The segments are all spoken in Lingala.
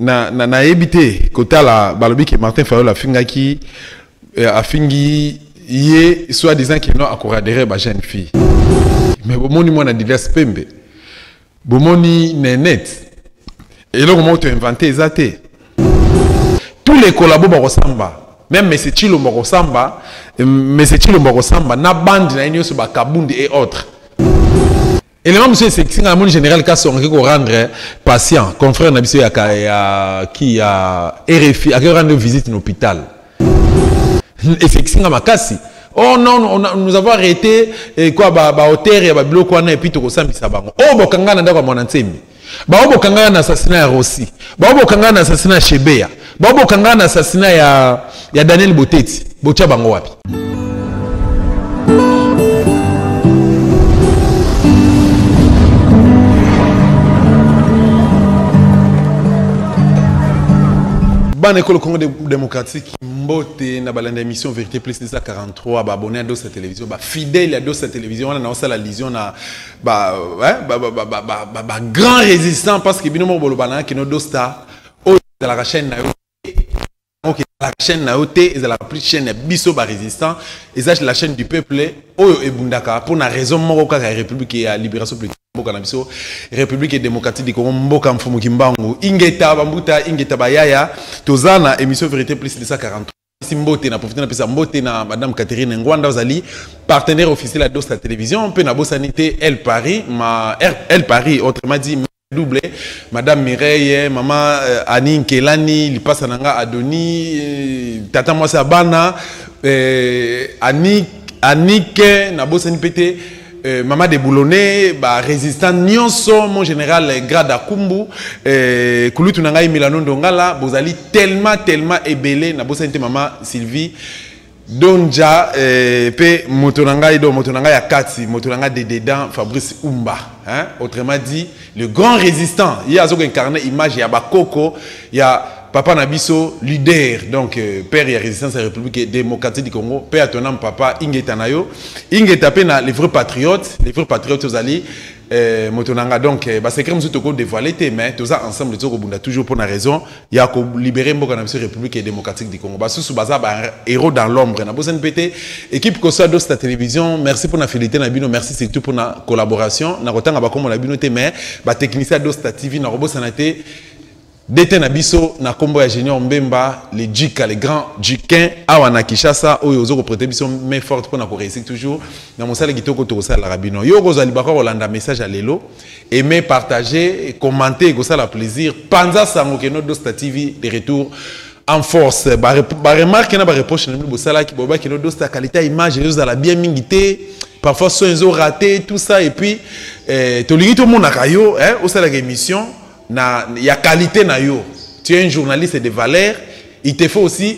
na na na ebite kotala balobi ke Martin Fayol afingaki eh, afingi ye soit disant que non akoradere ba jeune fille mais bomoni mwana Didas Pembe bomoni nenet eloko moko to invente eza te tous les collabo bakosamba même mese chilombo akosamba mese chilombo akosamba na bande na ye nyonso bakabundi et autres elema mosusu esekisi ngai namoni général kasonga ake korendre patient confrère na biso ya ki ya rfi ake korendre visite na hôpital esekisi nga makasi oh non on a, nous avons arrêté eh, quoi ba, ba hauteur ya babiloko wana epuis tokosambisa bango oyo oh, bokanga na ndako ya mwana nsembi bao bokanga na assassina ya rossi bao bokanga na assassina ya shebeya bao bokanga na assassina ya, ya daniel boteti botya bango wapi bana ekolo congo de démocratique mbote na balanda émission vérité plus nisa 43 baabonné ya dosa télévision bafidèle ya dosa télévision wana naosala lision na bagrand résistant parce que bino moko boloba na kino dosta oyo ezalaka chaîne na yo la chaîne na yo te ezalaka plus chaîne ya biso barésistant eza la chaîne du peuple oyo ebundaka mpo na raison moko kaka ya république ya libération politique mboka na biso république démocratique du congo mboka mfumu kimbangu ingeta bambuta ingeta bayaya toza na émission vérité plus 243 si mbote na profite napesa mbote na madame catherine ngwanda ozali partenaire officiel ya dos la télévision mpe nabosani te el paris ma el paris autrement dit double madame mireille mama euh, ani nkelani lipasa na nga adoni euh, tata mwasi ya bana euh, anike anike nabosani mpe te Euh, Mama de Boulonnais, ba résistant Nyonso, mon général euh, Grada Kumbu, euh, Kulutu Nangai Milano Ndongala, Bozali tellement, tellement ébélé, na Bosente Mama Sylvie, Donja, euh, pe Motonangai, do Motonangai Akati, Motonangai de Dedan, Fabrice Umba, hein, autrement dit, Le grand résistant, il y a incarné image ya bakoko ya papa na biso leader donc euh, père ya résistance ya république démocratique du congo père à ton âme papa ingeta na yo ingeta mpe na les vrais patriotes les vrais patriotes ozali euh, moto na nga donc euh, basecret mosusu toko dévoile te mais toza ensemble tozokobunda toujours mpo na raison ya ko libérer mboka na biso République démocratique du Congo. Basusu baza ba héros dans l'ombre. Na bosani pete équipe Kosa dos la télévision, merci pour na fidélité na bino, merci surtout pour na collaboration. Na kotanga ba kombo na bino te mais ba technicien dos la TV na robosana te dete na biso na kombo ya Junior Mbemba, les Jika, les grands Jikin awa na Kinshasa oyo ozo ko prêter biso main forte pour na ko réussir toujours. Na mosala kitoko to kosala la rabino. Yo kozali bako kolanda message ya lelo. aimez partager commenter ekosala plaisir panza sango keno dosta tv de retour en force baremarke na bareproche na bino bosalaki boyeba keno dosta qualité ya image ezozala bien mingi te parfois son ezo rate tout ça et puis eh, tolingi tomonaka yo eh, osalaka émission na ya qualité na yo tu es un journaliste de valeur il te faut aussi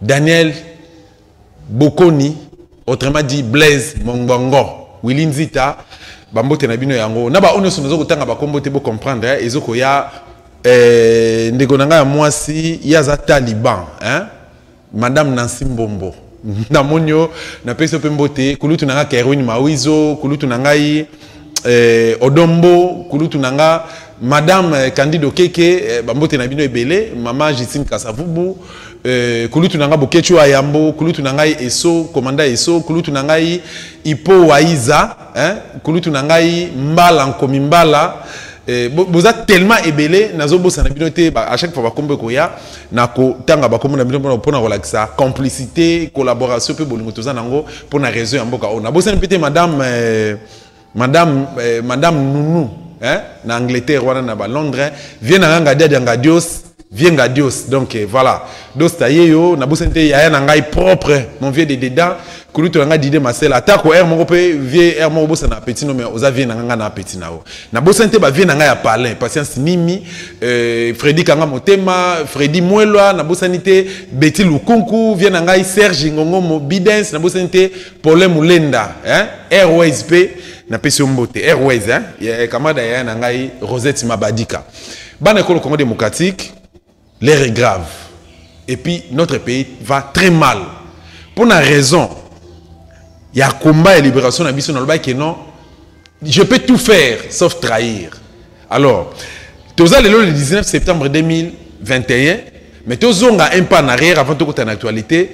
Daniel Bokoni, autrement dit Blaise Mongongo, Willy Nzita, bambote na bino yango. Na ba onyoso nazo kotanga ba kombo te bo comprendre, hein? ezo koya eh, ndeko na ngai ya mwasi yaza Taliban, hein? Madame Nancy Mbombo. na monyo na peso pe mbote kulutu na ngai Kerwin Mawizo, kulutu na ngai eh, odombo kulutu na nga madame eh, candide okeke eh, bambote na bino ebele mama justine kasavubu eh, kulutu na ngai boketshu ya yambo kulutu na ngai eso komanda eso kulutu na ngai ipo waiza eh, kulutu na ngai mbala nkomi mbala eh, boza tellement ebele nazobosana bino te à chaque fois bakombo ekoya na kotanga bakombo na bino mpona mpona kolakisa complicité collaboration mpe bolingo toza nango mpo na réseau ya mboka oyo nabosani mpe te madame eh, madame eh, madame nounou hein, na angleterre wana na balondres hein. vie na nga ngadiadi ya ngadios vie ngadios donc eh, voilà dosta ye yo nabosani te yaya na ngai propre mon vieux de dedans kulutu na ngai dide masela atako aire moko mpe vie aire moko obosana apeti no mai oza vie na nga nga na apeti na yo nabosani te bavie na ngai ya palin patience mimi euh, fredi kanga motema fredi mwelwa nabosani te beti lukunku vie na ngai serge ngongomo bidens nabosani te pole mulenda hein? airways mpe napesi yo mbote airways hein? ya kamada yaya na ngai rosette mabadika bana ekolo congo démocratique l'air est grave et puis notre pays va très mal mpo na raison ya combat ya libération na biso nalobaki non je peux tout faire sauf trahir Alors, toza lelo le 19 septembre 2021, mais tozonga un pas en arrière avant tokota en actualité.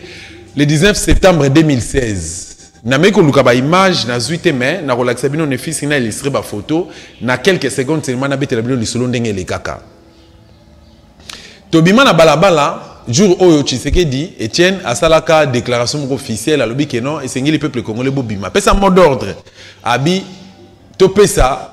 Le 19 septembre 2016, nameki koluka ba image nazwi te mais nakolakisa bino nefisi na illustre ba photo na quelques secondes seulement nabetela bino lisolo ndenge elekaka tobima na balabala jour oyo tshisekedi etienne asalaka déclaration moko officielle alobi ke non esengeli peuple congolais bobima apesa mot d'ordre abi topesa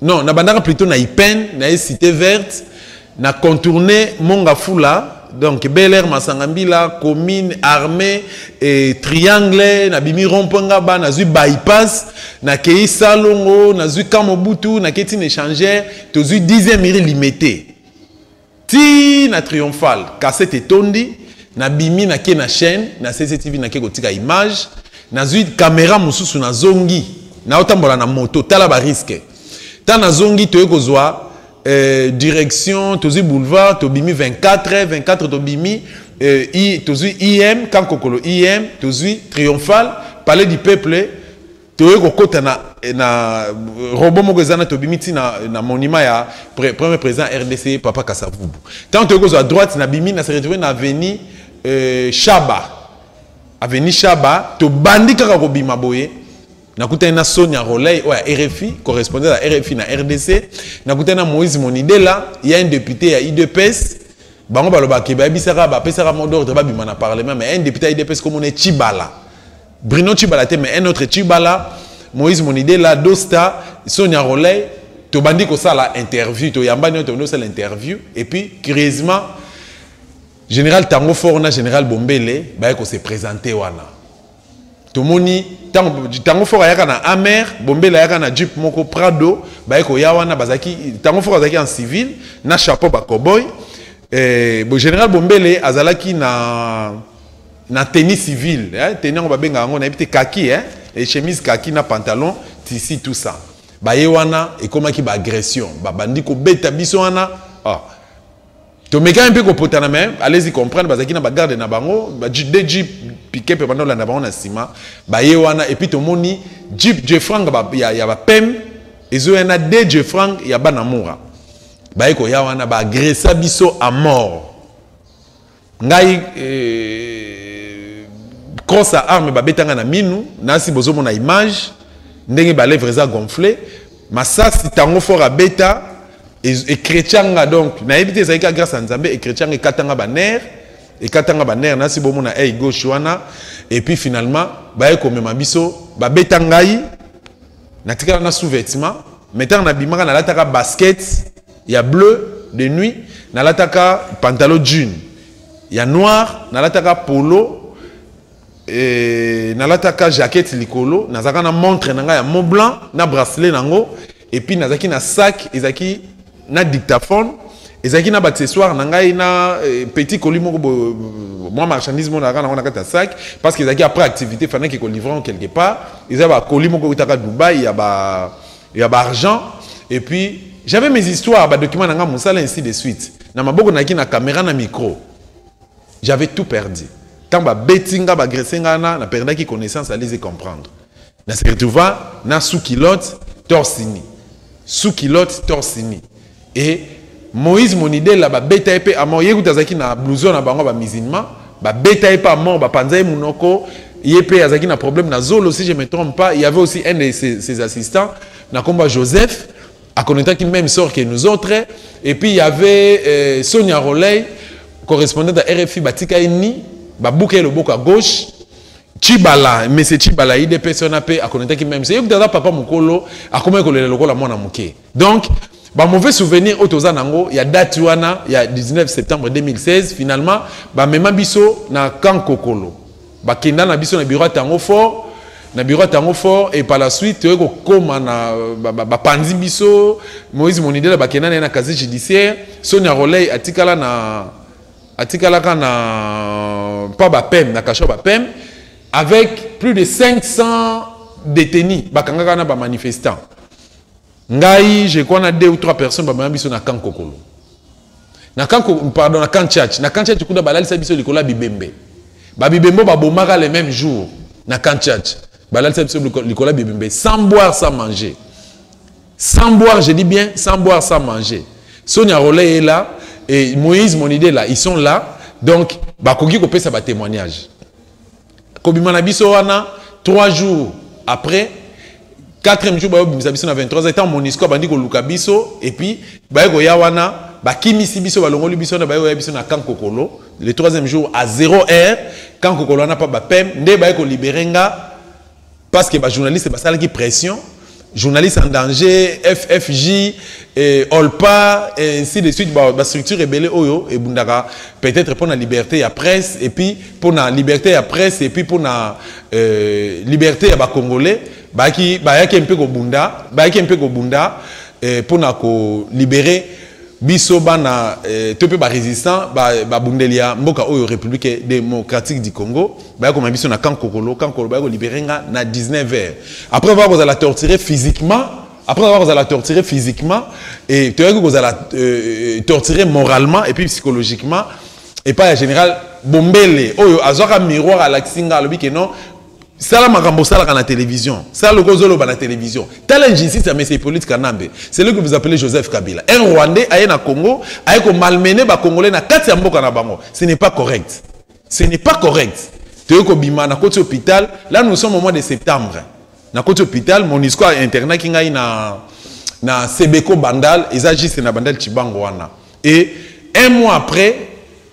non nabandaka plutôt na ipene na ye cité verte na contourne mongafula donc bel air masanga mbila commune armée e, triangle nabimi rompoint ngaba nazwi bypass nakei salongo nazwi kamobutu nakei ntina échangeur tozwi 10e iri limete Ti na triomphal cassette etondi na bimi na ke na chaîne na CCTV na ke kotika image na zui camera mususu na zongi na otambola na moto tala ba risque ta na zongi toye kozwa Euh, direction tozwi boulevard tobimi 24 24 tobimi euh, i, tozwi im kankokolo im tozwi triomphal palais du peuple toye kokota na, na robot moko eza na tobimi ti na, na monument ya pre, premier président rdc papa kasavubu ntango toye kozwa droite na bimi na se retrouve na avenue euh, shaba avenue shaba tobandi kaka kobima boye nakutani na sonia roley oyo ya rfi correspondant ya rfi na rdc nakutani na moïse monidela ya un député ya udps bango balobaka bayebisaka bapesaka modordre babima na parlement mais un député ya udps komona chibala Bruno Chibala te mais un autre Chibala, Moïse Monidela, Dosta, Sonia Roley, tobandi kosala interview, toyambani oyo tobandi kosala interview et puis curieusement général Tango Fort na général Bombele baye ko se présenter wana. Tomoni tango Tango Fort ayaka na Amer, Bombele ayaka na Jeep moko Prado, baye ko ya wana bazaki Tango Fort azaki en civil na chapeau ba cowboy. Eh, bo général Bombele azalaki na na tenue civile hein? tenue yango babengaka yango nayebi te kaki hein? et chemise kaki na pantalon tisi tout ça baye wana ekomaki baagression babandi kobeta biso wana oh. Ah. tomekaki mpe kopotana me alezi comprendre bazalaki na bagarde na bango de jeep pike mpe banda olanda bango na nsima baye wana epuis tomoni jeep jefrang ya, ya bapeme ezoya na de jefrang ya bana mura baye koya wana baagresa biso a mort ngai eh, cross ya arme babetanga na minu nasi bozomona image ndenge balèvre eza gonfle masasi tango fort abeta ekretya nga donc nayebi te ezalaki ka grâce ya nzambe ekretya nga ekata nga banere ekata nga banere nasi bomona ey gauche wana epuis finalement baye komema biso babeta ngai natikala na sous-vêtement mai ntango nabimaka nalataka basket ya bleu de nuit nalataka pantalon jean ya noir nalataka polo eh, nalataka jaquette likolo nazalaka na montre na ngai ya mont blanc na bracelet na yango epuis nazalaki na sac ezalaki na dictaphone ezalaki na baaccessoire na ngai na eh, petit colis moko mwa marchandise moko nazalaka nango na kati ya sac parce que ezalaki après activité fanaki kolivre quelque part eza bacolis moko eutaka dubai ya ba ya ba argent et puis j'avais mes histoires ba documents na nga mosala ainsi de suite na maboko nayaki na caméra na micro j'avais tout perdu ntango babeti nga bagrese nga na na perdaki connaissance alise comprendre na se retrouva na sous kilote torsini sous kilote torsini Et Moïse Monidela ba beta epe à mort yekuta zaki na blouson na bango ba musulman ba beta epe à mort ba panza e munoko yepe azaki na problème na zolo si je me trompe pas il y avait aussi un de ses, ses assistants na combat Joseph à connaître qui même sort que nous autres et puis il y avait euh, Sonia Roley correspondant à RFI batika ni ba bouka le boka gauche Chibala mais c'est Chibala idps on a pe à connaître qui même c'est yekuta papa mukolo akomaki kolela lokola mwana muke Donc, ba mauvais souvenirs oyo toza nango ya date wana ya 19 septembre 2016 finalement bamema biso na camp kokolo bakenda na biso na bureau ya tango fort na bureau ya tango fort et par la suite toyei kokoma na bapanzi ba, ba biso moïse monidela bakenda na ye na casier judiciaire sonia roley atikala na atikalaka na mpa bapem na kasho bapem avec plus de 500 détenus bakangaka na bamanifestants ngai je crois na deux ou trois personnes bamema biso na camp kokolo na camp pardon na camp church na camp church kuna balalisa biso likolo ya bibembe babibembe oyo babomaka le même jour na camp church balalisa biso likolo ya bibembe sans boire sans manger sans boire je dis bien sans boire sans manger sonia roley est là et moïse monide là ils sont là donc bakoki kopesa batémoignage kobima na biso wana 3 jours après 4e jour bayobimisa biso na 23 ans etant monisco abandi koluka biso epuis baye koya wana bakimisi biso balongoli biso wana baye koya biso na camp kokolo le 3e jour à 0 heure camp kokolo wana pa bapem nde baye kolibere nga Parce que ba journalistes basalaki pression, journaliste en danger, FFJ, et eh, Olpa, et eh, ainsi de suite, ba, ba structure ebele oyo et bundaka peut-être pour la liberté à presse et puis pour la liberté à presse et puis pour la euh, liberté à ba congolais, ba qui ba yaki un peu ko bunda, ba yaki un peu ko bunda eh, pour na ko libérer Biso bana eh, to pe ba résistant ba, ba bundelia mboka oyo République démocratique du Congo ba ko biso na camp kokolo camp kokolo ba ko libérer nga na 19h après va ko la torturer physiquement après avoir la torturer physiquement et tu as que vous allez euh, torturer moralement et puis psychologiquement et pas la général bombele oyo azwaka miroir à la xinga lobi que non sala makambo osalaka na télévision sala lokola ozoloba na télévision tala injustice ya mese hippolyte kanambe celui que vous appelez joseph kabila un rwandais aye na congo aye komalmene bacongolais na kati ya mboka na bango ce n'est pas correct ce n'est pas correct toyei kobima na koti hôpital là nous sommes au mois de septembre na koti hôpital monisco ainternaki ngai na, na sebeco bandal eza juste na bandal cibango wana et un mois après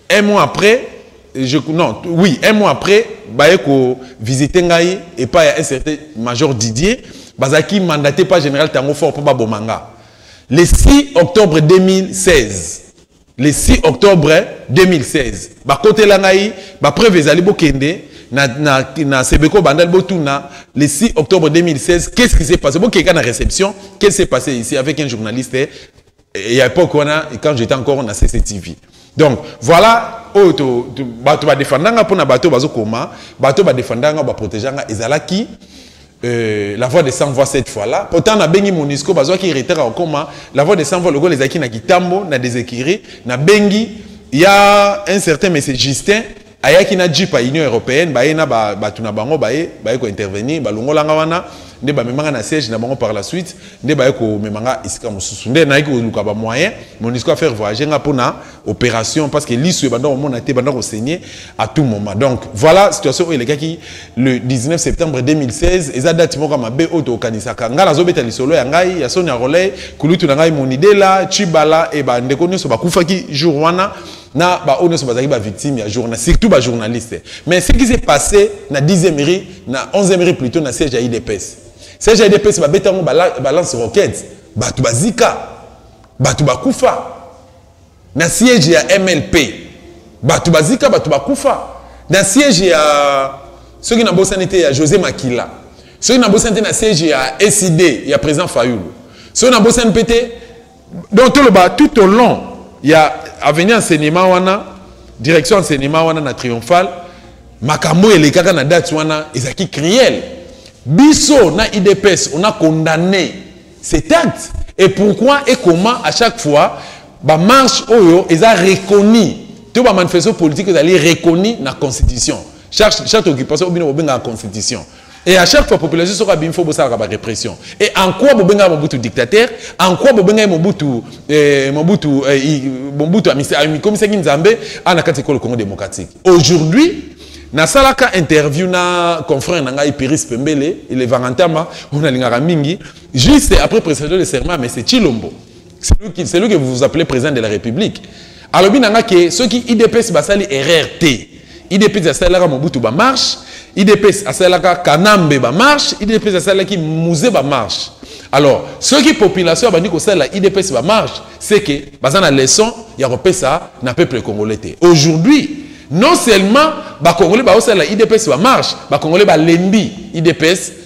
un mois après je non oui un mois après baye ko visiter ngai et pas un certain major Didier bazaki mandaté par général Tango fort pour baboma nga le 6 octobre 2016 le 6 octobre 2016 bakotela ngai bapreuve ezali bokende na, na, na sebeko bandali botuna le 6 octobre 2016 qu'est ce qui s'est passé bokeka na réception qu'est ce qui s'est passé ici avec un journaliste Il y a époque wana quand j'étais encore na CCTV. Donc voilà oyo to, to bato ba défendanga pona bato bazo koma, bato ba défendanga ba protéganga ezalaki euh, la voix de 100 voix cette fois là. Pourtant na bengi Monisco bazo ki retard au coma, la voix de 100 voix le gol ezaki na kitambo na déséquiré, na bengi il y a un certain monsieur Justin Ayaki na jeep ya Union Europeenne, baye na ba, batu na bango baye baye ko intervenir, balongola nga wana nde bamema nga na siège na bango par la suite nde baye komema nga esika mosusu nde nayaki koluka ba moyen monisco a faire voyager nga mpo na opération parce que lisu ebanda komona te ebanda kosenye à tout moment donc voilà situation oyo elekaki le 19 septembre 2016 eza date moko mabe oyo tokanisaka ngai nazobeta lisolo ya ngai ya sonia roley kulutu na ngai monidela chibala e bandeko nyonso bakufaki jour wana na ba oyo nyonso bazalaki bavictime ya journal surtout bajournaliste mais ce qui s'est passé na 10e rue na 11e rue plutôt na siège ya idps siège ya idps babeta yango balance roquette bato bazika bato bakufa na siège ya mlp bato bazika bato bakufa na siège ya soki nabosani te ya josé makila soki nabosani te na siège ya sid ya président fayulu soki nabosani mpe te donc toloba tout au long ya avenue enseignement wana direction enseignement wana na triomphal makambo elekaka na date wana ezalaki criel biso na idps on a condamné cet acte et pourquoi et comment à chaque fois bamarche oyo eza reconnu to bamanifestation politique ezali reconnu na constitution chaque, chaque occupation obino bobengaka constitution Et à chaque fois, population sera bien faut ça la répression. Et en quoi Bobenga Mobutu dictateur En quoi Bobenga Mobutu eh, Mobutu eh, Mobutu comme ça Nzambe en akati ko le Congo démocratique. Aujourd'hui, na salaka interview na confrère na ngai Piris Pembele, il est Vangantama, on a lingara mingi, juste après prestation de serment mais c'est Chilombo. c'est lui que vous vous appelez président de la république alobi na nga ke soki idps basali erreur te idps asalelaka mobutu bamarche idps asalelaka kanambe bamarche idps asalelaki muze bamarche alors soki population abandi kosalela idps bamarche c'est que baza na leçon ya kopesa na peuple congolais te aujourd'hui non seulement bakongolais baosalela idps bamarche bakongolais balembi idps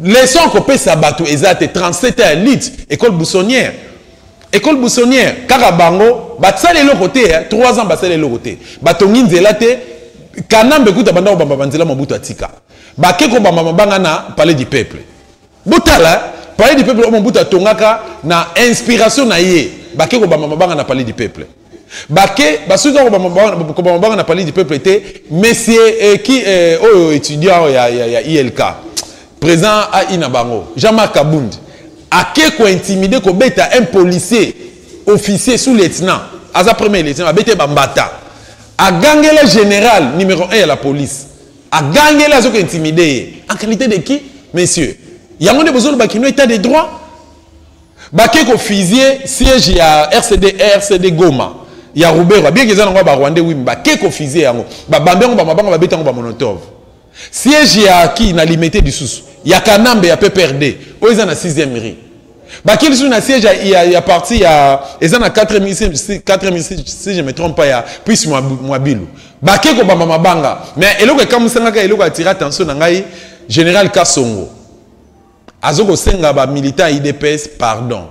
Leçon à kopesa bato eza te 37 ans lit école buissonnière école buissonnière kaka bango basali eloko te 3 hein. ans basali eloko te batongi nzela te kanambe kuta banda kobamba banzela mobutu atika bake kobamba mabanga na palais du peuple botala hein. palais du peuple oyo mobutu atongaka na inspiration na ye bake kobamba mabanga na palais du peuple bake basuki kaka kobama banga na palais du peuple te monsieur eh, ki eh, oyo oh, étudiant ya, ya, ya ilk président ai na bango jean marc abundi ake kointimide kobeta un policier officier sous lieutenant aza premier lieutenant abete bambata agangela général numéro 1 ya la police agangela azoki intimide ye en qualité de qui monsieur yango nde bozoloba kino état de droit bake ko fisie siège ya rcd rcd goma ya ruberwa bien eza nango ya barwandais wimi bake ko fisie yango babambi yango bamabanga babeti yango bamonotove siège ya ki na limete lisusu ya kanambe ya pprd oyo eza na 6e ri bake lisusu na siège ya, ya parti ya eza na 4 si je me trompe pas ya prise mwabilu bake kobamba mabanga mais eloko ekamwisangaka eloko atira attention na ngai général kasongo azo kosenga ba militant ya idps pardon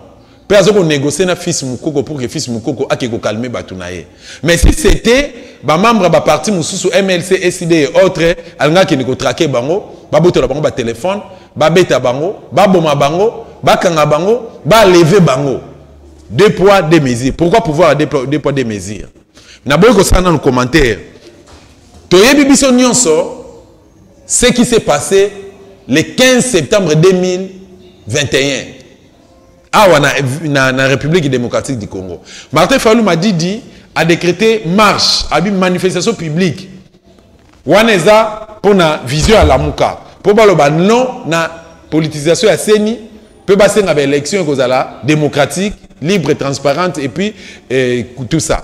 mpe azo konegocie na fils mukoko pour que fils mukoko ake kokalme bato na ye mais si c'était bamembre ya baparti mosusu mlc ecd e autre alingaki akende kotrake bango babotola bango batelefone babeta bango baboma bango bakanga bango baleve bango deux poids deux mesures pourquoi pouvoir ya deux poids deux mesures naboyi kosala nanu commentaire toyebi biso nyonso Ce qui s'est passé le 15 septembre 2021 awa na, na, na République démocratique du Congo. Martin Fayulu Madidi a décrété marche, a une manifestation publique. Wana eza pona vision ya Lamuka. Po baloba non na politisation ya CENI pe basenga ba élection ekozala démocratique, libre, transparente et puis eh, tout ça.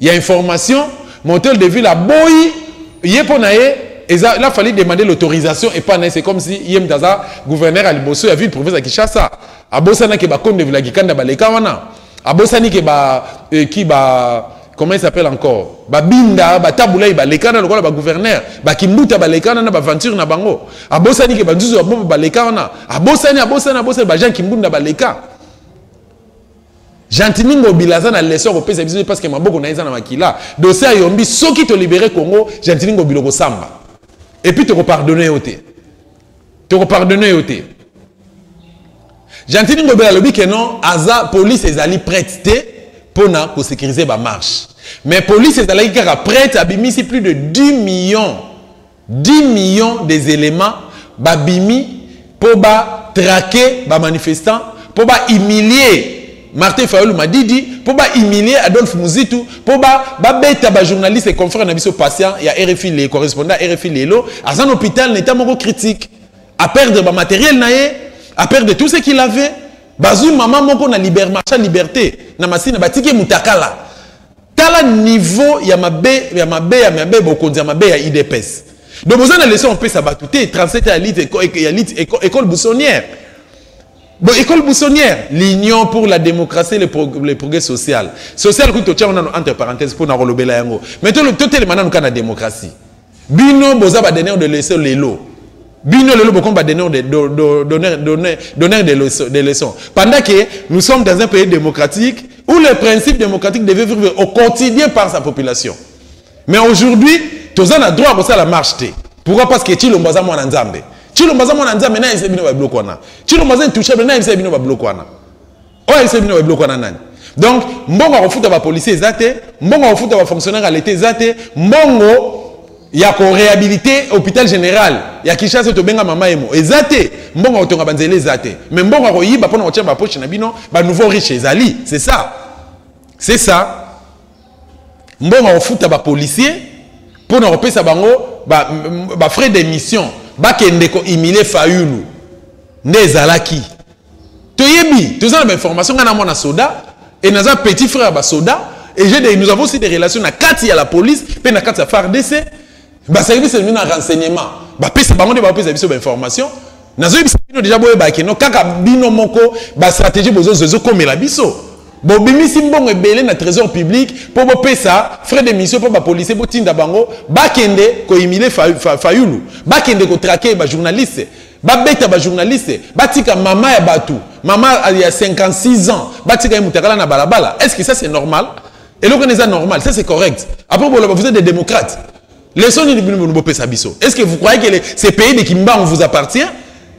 ya information mais hotel de ville aboyi ye mpo na ye eza la fallait demander l'autorisation et pas c'est comme si yem daza gouverneur à liboso ya ville province ya Kinshasa abosana ke ba konde vila kikanda baleka wana abosani ke ba euh, qui ba comment il s'appelle encore ba binda ba tabulai baleka na lokola ba gouverneur ba kimbuta baleka na ba venture na bango abosani ke ba nzuzu ba baleka wana abosani abosani abosani ba gens kimbunda baleka Gentini Ngobila aza na leçon ko pesa biso parce que maboko na eza na makila. Dossier ayombi soki to libérer Congo, Gentini Ngobila ko samba. Et puis toko pardonner yo te. Toko pardonner yo te. Gentini Ngobila lobi que non, aza police ezali prête te pona ko sécuriser ba marche. Mais police ezalaki kaka prête abimisi plus de 10 millions 10 millions des elements babimi po ba traquer ba manifestants po ba humilier martin fayulu madidi mpo bahumilie adolphe muzitu mpo babeta bajournaliste confrère na biso patient ya rfi le correspondant ya rfi lelo aza na hôpital na etat moko critique aperdre bamateriel na ye aperdre tout ce qu'il avait bazwi mama moko na liber marcha liberté na masina batiki mutakala Tala niveau ya mabe ya mabe ya mabe bokonzi ya mabe ya IDPS. Donc vous avez une leçon à bato te 37 ya lite ya lite école buissonnière. Bon, école buissonnière, l'union pour la démocratie et le, prog le progrès social. Social, écoute, tu as entre parenthèses pour nous Mais tout le temps, tu es la démocratie. Bino boza ba donneur de leçon lelo. Bino lelo bokomi ba donneur de donneur donneur donneur de leçon de leçon. Pendant que nous sommes dans un pays démocratique où les principes démocratiques devaient vivre au quotidien par sa population. Mais aujourd'hui, toza na droit ça la marche te. Pourquoi parce que Chilombo aza mwana Nzambe. Chilombo aza mwana Nzambe na yebisa bino ba biloko wana. Chilombo aza intouchable na yebisa bino ba biloko wana. oyo ayebisa bino babiloko wana nani donc mbongo ya kofuta bapolicier eza te mbongo ya kofuta bafonctionnaire ya leta eza te mbongo ya korehabilite hôpital général ya kinshasa tobenga mama emo eza te mbongo ya kotonga banzela eza te mais mbongo ya koyiba mpona kotia bapoche na bino banouveau riche ezali c'est ça c'est ça mbongo ya kofuta bapolicier mpo na kopesa bango bafrais ba d'émission bakende kohumile fayulu nde ezalaki toyebi toza na bainformation ngai na mwana soda e naza petit frère ya basoda et j'ai des, nous avons aussi des relations na kati ya la police mpe na kati ya fardc baservice elimi na renseignement bapesa bango nde bapesa biso bainformation nazoyebisa bino deja boyebaki no kaka bino moko bastratégie bozozwa ezokomela biso bobimisi mbongo ebele na trésor public mpo bopesa frais de mission mpo bapolisier botinda bango bakende koimile fayulu bakende kotrake bajournaliste Babeta ba journaliste, batika mama ya batu, mama ya 56 ans, batika ye mutakala na balabala. Est-ce que ça c'est normal? Et le est normal, ça c'est correct. Après, vous êtes des démocrates. Les sons biso. Est-ce que vous croyez que ces pays de Kimbangu vous appartient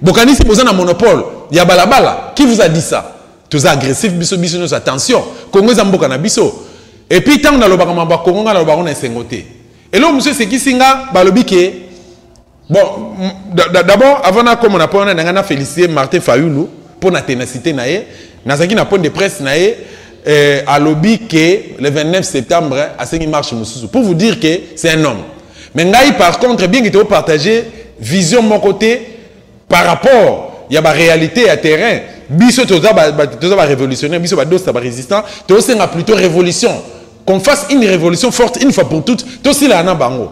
Bokanisi bozana monopole, ya balabala. Qui vous a dit ça Tous agressifs, biso biso nos attention. Congo est mboka na biso. Et puis tant na lobaka mamba Congo na lobaka na sengote. Et là monsieur c'est qui singa balobi que bon d'abord avant nakoma na mpona na ngai na félicité martin fayulu mpo na ténacité na ye nazalaki na point de presse na ye euh, alobi ke le 29 septembre asengi marche mosusu pour vous dire que c'est un homme mais ngai par contre bien kite opartage vision moko te par rapport ya baréalité ya terrain biso toza barévolutionnaire biso badosta barésistant tosenga plutôt révolution qu'on fasse une révolution forte une fois pour toutes tosilaa na bango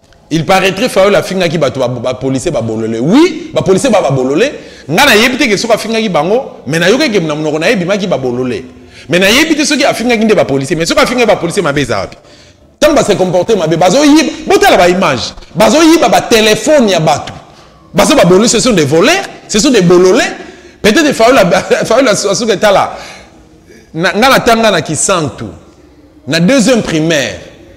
il paraîtrait fayol afingaki bato bapolisier babolole oui bapolisier ba babolole ngai nayebi te ke soki afingaki bango mai nayoki ekemi na monoko na ye ebimaki babolole mai nayebi te soki afingaki nde bapolisier mai soki afingaki bapolisier mabe eza wapi ntango base comporte mabe bazoyiba botala baimage bazoyiba batelefone ya bato bazo babolole ce sont des voleurs ce sont des bolole peut-être fayol asuka etala ngai natanga na kisantu na deuxième primaire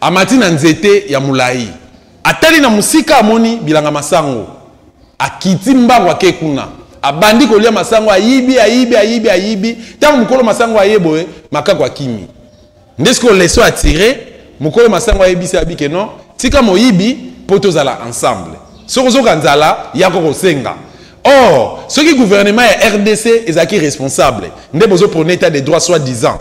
amati na nzete ya molai atali na mosika amoni bilanga masango akiti mbango ake kuna abandi kolia masango ayibi ayibi ayibi ayibi ntango mokolo masango aye boye makako akimi nde sikoyo leso atire mokolo masango ayebisi abike non tika moyibi mpo tozala ensemble soki ozoka nzala yako kosenga or soki gouvernement ya rdc ezalaki responsable nde bozoprone etat de droit soit disant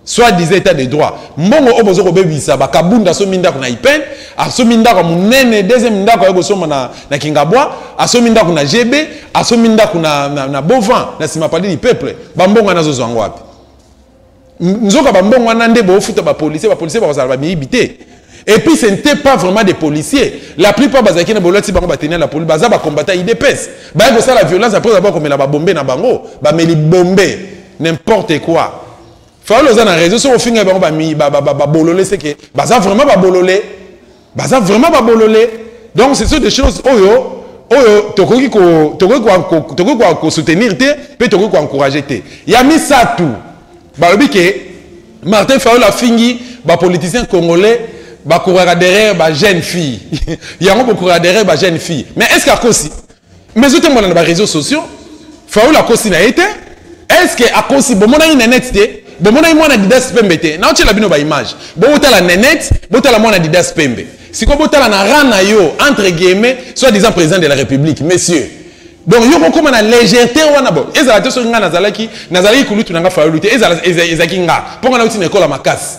soit disait état de droit mbongo oyo bozo kobebisa bakabunda asomi ndako na ipen asomi ndako ya monene deuxième ndako aye kosomba na, na kingabwa asomi ndako na gb asomi ndako na, na, na bovan na nsima pali du peuple bambongo wana azozwa yango wapi nzoka bambongo wana nde boofuta bapolisier bapolisier bakozala bamiyibi te et puis ce n'était pas vraiment des policiers la plupart bazalaki na bolati bango bateni ya la police baza bakombata idps baye kosala violence apres bakomela babombe na bango bameli bombe n'importe quoi fayola oza na raison soki ofinga bango babolole seke baza vraiment babolole baza vraiment babolole donc ce sont des choses oyo oyo tokoki kosoutenir te mpe tokoki koencourage te ya misato balobi ke martin fayola afingi bapoliticien congolais bakuraka derrière bajeune fille yango bokuraka derrière bajeune fille mais est ce que akosi mais ezotambola na bareseau sociaux faul akosi na ye te est ce que akosi bomonaki na net te bomonaki mwana didas pembe te naotyela bino baimage botala nenet botala mwana didas pembe sikoyo botala na ran na yo entre guillemets soit disant président de la république monsieur donc yo kokóma na légèreté wana bo ezala te soki ngai nazalaki nazalaki kulutu na ngai fayolu te ezalaki ngai mpo ngai nauti na ekola makasi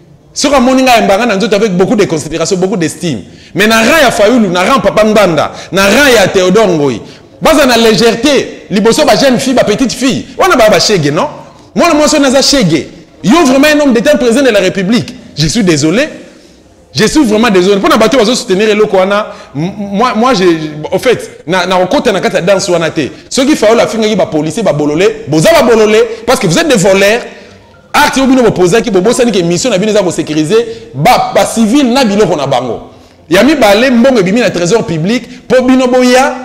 soki amoni ngai ayembaka na nzoto avec beaucoup de considération beaucoup d'estime mais na rang ya fayulu na rang papa ngbanda na rang ya théodore ngoi baza na légèreté liboso ba jeune fille ba petite fille wana baya bashege non mwana mwasi wana aza shege yo vraiment un homme d'état président de la république je suis désolé je suis vraiment désolé mpo na bato bazo soutenir eloko wana moi, moi je, au fait nakokota na, na kati ya danse wana te soki fayola afingaki bapolicier babolole boza babolole parce que vous êtes des voleurs acte oyo bino bopozaki bobosani ke mission na bino eza kosécurise bacivile na biloko na bango ya mibale mbongo ebimi na trésor public mpo bino boya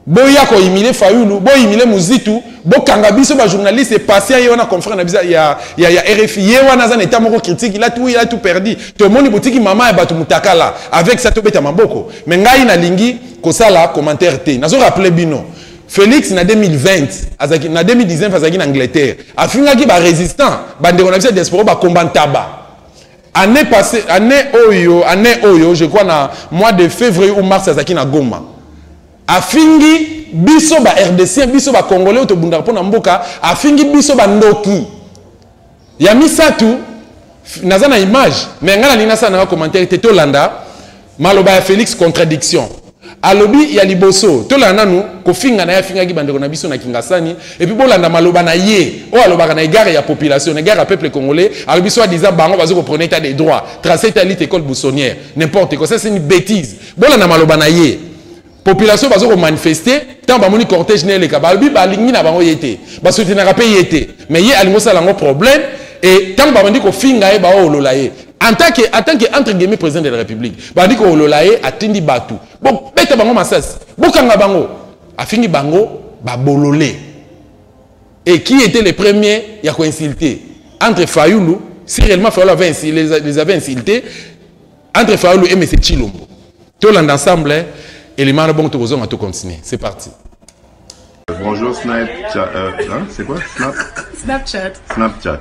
boya koyimile fayulu boyimile muzitu bokanga biso bajournaliste patient ye wana confrère na biso ya, ya, ya rfi ye wana aza na etat moko critique il a tout, il a tout perdu tomoni botiki mama ya bato mutakala avec sa tobeta maboko me ngai nalingi kosala commentaire te nazo rappele bino Felix na 2020 azaki na 2019 azaki na Angleterre afingaki ba résistant bandeko na biso ya diaspora ba combat ntaba année passée année oyo année oyo je crois na mois de février ou mars azaki na Goma afingi biso ba RDC biso ba congolais tobundaka mpo na mboka afingi biso ba ndoki Ya misatu naza na image mais ngai nalingi nasala nanga commentaire te tolanda maloba ya Felix contradiction alobi ya liboso tolanda nanu kofinga na ye afingaki bandeko na biso na kingasani epuis bolanda maloba na ye oyo alobaka na egare ya population na egare ya peuple congolais alobi soit disant bango bazo kopreneur etat de droit trace etat lite école bussonnière n'importe quoi ça c'est une bêtise bolanda maloba na ye population bazo ko manifester tant ba moni cortège ne leka ba bi ba lingi na bango yete ba soutenir ka paye yete mais ye alingo sala ngo problème et tant ba bandi ko finga ye ba olola ye en tant que en tant que entre guillemets président de la république ba ndi ko olola ye atindi batu bo beta bango masasi bo kanga bango afingi bango ba bolole et qui était le premier ya ko insulter entre Fayoulou si réellement Fayoulou avait insulté les, les avait insultés entre fayulu et monsieur chilombo tolanda ensemble hein. elimana bongo tokozonga to continuer c'est parti bonjour snapchat euh, hein, c'est quoi Snap... snapchat snapchat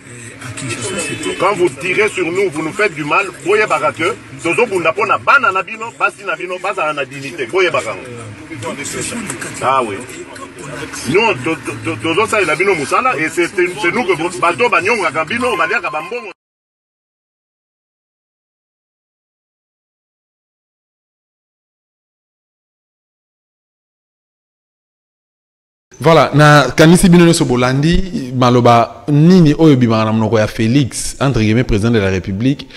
Quand vous tirez sur nous, vous nous faites du mal, boyebaka que tozo bunda pona bana na bino, basi na bino, bazala na dignité, boyebaka ngo. Ah oui. Non, tozo salela bino musala et c'est nous que bato banyongaka bino, baliaka bambongo. Voilà, na kanisi bino nyoso bolandi maloba nini oyo bimaka na monoko ya Felix entre guillemets président de la République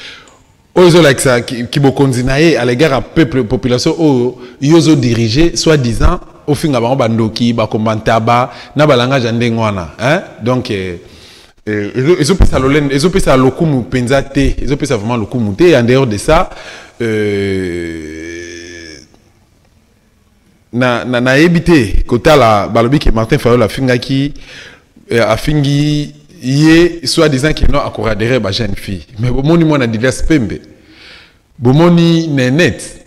oyo ezolakisa kibokonzi na ye à l'égard ya peuple population oyo yo ozodirige soit disant ofinga bango bandoki bakomba ntaba na balangage ya ndenge wana hein? donc eh, eh, ezopesa lolende ezopesa lokumu mpenza te ezopesa vraiment lokumu te en dehors de ça euh, na na nayebi te kotala balobi ke Martin Fayol afingaki eh, afingi ye soit disant que non akoradere ba jeune fille mais bomoni mwana Didas Pembe bomoni Nenette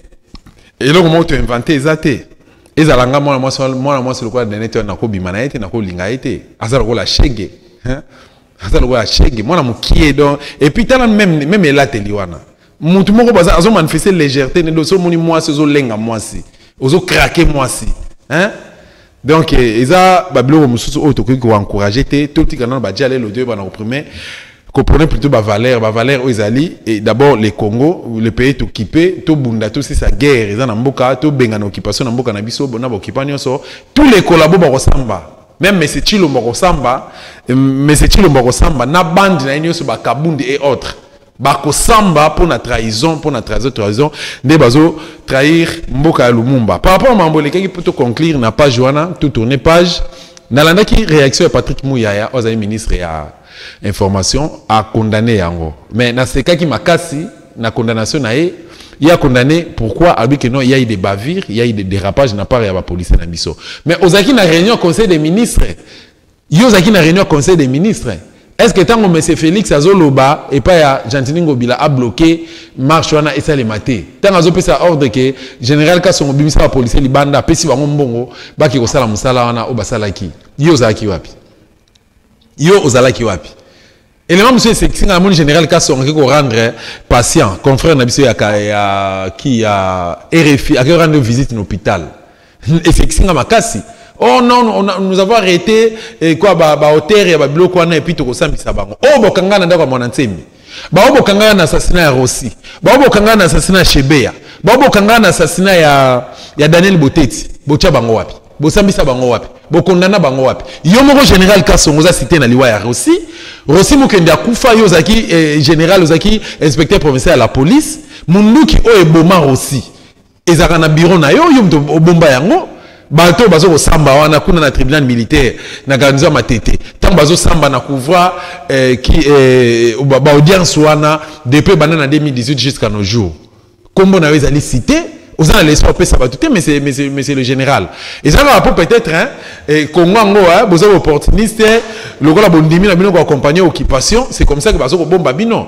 eloko moko to inventer eza te ezala nga mwana mwasi mwana mwasi lokola Nenette wana nakobima na ye te nakolinga ye te aza lokola shege hein? aza lokola shege mwana mokie donc et puis tala même même elateli wana mutu moko baza azo manifester légèreté ne doso moni mwasi ozo lenga mwasi ozo craquer mwasi hein donc eh, eza ba biloko mususu oyo tokoki ko encourager te to tika nanu ba diale l'audio ba na reprimer comprenez plutôt ba valeur ba valeur oyo ezali et d'abord le Congo le pays to kipe to bunda to sisa guerre eza na mboka to benga na occupation na mboka na biso bona ba occupant nyonso tous les collabos ba kosamba même monsieur Chilombo kosamba monsieur Chilombo kosamba na bande na nyonso ba Kabundi et autres bakosamba mpo na trahison mpo na trahison trahison nde bazo trahir mboka ya lumumba par rapport mambo elekaki mpo to conclure na page wana to tourne page nalandaki réaction ya patrick muyaya oyo azali ministre ya information acondamne yango mais nasekaki makasi na condamnation na ye ye acondamne pourquoi alobi ke non yai de bavire yai de dérapage na part ya bapolisier na biso mais ozalaki na réunion conseil des ministres Yo ozalaki na reunion ya conseil des ministres est ce que ntango monsieur félix azoloba epai ya gentini ngobila abloke marche wana esalema te ntango azopesa ordre ke général kasongo bimisa bapolisier libanda apesi bango mbongo bake kosala mosala wana oyo basalaki yo ozalaki wapi yo ozalaki wapi Élément monsieur Sexinga na moni général Kasonga qui ko rendre patient confrère na biso ya ya qui ya RFI a rendre visite na hôpital. Et Sexinga makasi. Oh non, on a, nous avons arrêté et eh, quoi ba ba hauteur ya ba biloko wana et puis toko sambisa bango. Oh bokanga na ndako mwana nsemi. Ba oh, bokanga na assassinat ya Rossi. Ba oh, bokanga na assassinat ya Shebea. Ba bokanga na assassinat ya ya Daniel Boteti. Bocha bango wapi? bosambisa bango wapi bokondana bango wapi yo moko général kasongo oza site na liwa ya rosi rosi mokende akufa yo ozalaki eh, général ozalaki inspecteur provincial ya la police munduki oyo eboma rosi ezalaka na bureau na yo yo moto obomba yango bato oyo bazokosamba wana kuna na tribunal militaire na garnison ya matete ntango bazosamba na couvra eh, eh, baaudience wana depuis banda na 2018 jusqu'à nos jours kombo na yo ezali cité oza na leçon opesa bato te monsieur, monsieur, monsieur le général eza kaka mpo peut-être hein, eh, congo yango hein, boza baopportuniste lokola bondimi na bino koaccompagne occupation c'est comme ça que bazo kobomba bino